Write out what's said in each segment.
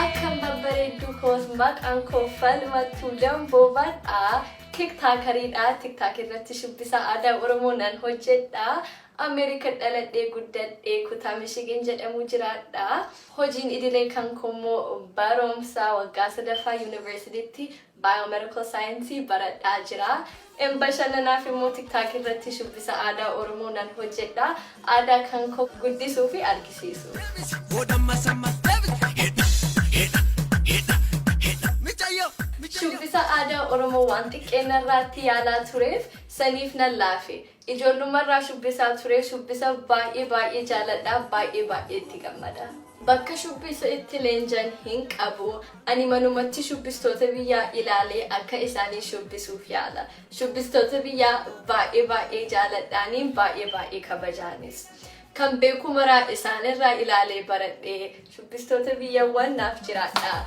Akkam babbareedduu koos maqaan koo falmattuu damboobadha. Tiktaakariidha. Tiktaak irratti shubbisa aadaa Oromoo nan hojjedha. Ameerika dhaladhee guddadhee kutaa Michigan jedhamu jiraadha. Hojiin idilee kan koo immoo barumsa waggaa sadaffaa yuunivarsiitiitti Biomedical Science baradhaa jira. Em Bashannanaaf immoo TikTok irratti shubbisa aadaa Oromoo nan hojjedha. Aadaa kan koo guddisuu fi argisiisuuf. Shubbisa aadaa Oromoo waan xiqqeen narraatti yaalaa tureef saniif nan laafe. Ijoollummarraa shubbisaa ture. Shubbisa baay'ee baay'ee jaaladha. Baay'ee baay'ee itti gammada. Bakka shubbisa itti leenjan hin qabu. Ani manumatti shubbistoota biyyaa ilaalee akka isaanii shubbisuuf yaala. Shubbistoota biyyaa baay'ee baay'ee jaaladhaani baay'ee baay'ee kabajaanis. Kan beeku maraa isaan irraa ilaalee baradhe. Shubbistoota biyyawwan naaf jiraadhaa.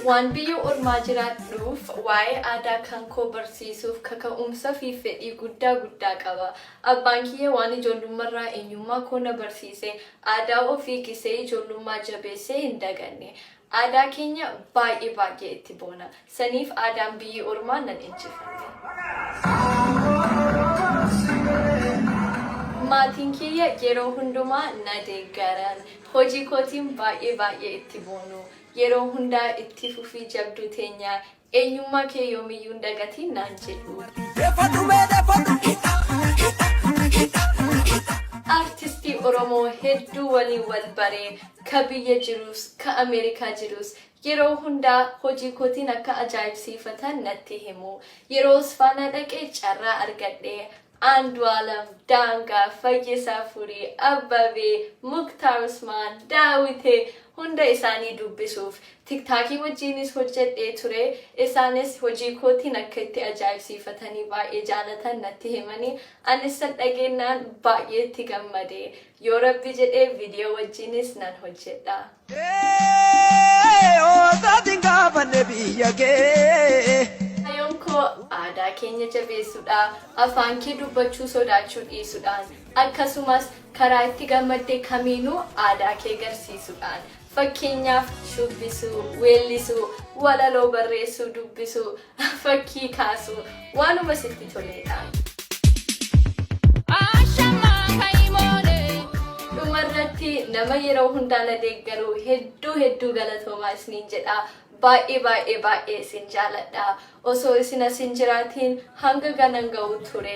Waan biyya ormaa jiraadhuuf waa'ee aadaa kan koo barsiisuuf kaka'umsa fi fedhii guddaa guddaa qaba. Abbaan kiyya waan ijoollummarraa eenyummaa koo na barsiise, aadaa ofii gisee ijoollummaa jabeessee hin daganne. Aadaa keenya baay'ee baay'ee itti boona. Saniif aadaan biyyi ormaa nan injifanne. Maatiin kiyya yeroo hundumaa na deeggaran. Hojii kootiin baay'ee baay'ee itti boonu. Yeroo hundaa itti fufii jabduu teenya Eenyummaa kee yoomiyyuu hin dagatiin naan jedhuu. Defadhu mee defadhu hidha hidha hidha hidha. Artistii Oromoo hedduu waliin wal bare, ka biyya jiruus, ka Ameerikaa jiruus yeroo hundaa hojii kootiin akka ajaa'ibsiifatan natti himu. Yeroo Osfaanaa dhaqe carraa argadhe, Andualam, Danga, Fayyisa Furi, Abbabe, Muktar Usman, Dawite hunda isaanii dubbisuuf tiktaakii wajjiinis hojjedhee ture isaanis hojii kootiin akka itti ajaa'ibsiifatanii baay'ee jaalatan natti himani anis san dhageennaan baay'ee itti gammade yoo rabbi jedhee video wajjiinis nan hojjedha. Ee oosaatiin gaafanne biyya kee. Kaayyoon koo aadaa keenya jabeessuudha, afaan kee dubbachuu sodaachuu dhiisuudhaan, akkasumas karaa itti gammadde kamiinuu aadaa kee garsiisuudhaan. Fakkeenyaaf, shubbisuu, weellisuu, walaloo barreessuu, dubbisuu, Fakkii kaasuu waanuma sitti toleedha. Dhumarratti nama yeroo hundaa na deeggaru hedduu hedduu galatoomaa isiniin jedha. Baay'ee baay'ee baay'ee isin jaaladha. Osoo isin as hin jiraatiin hanga ganan ga'u ture.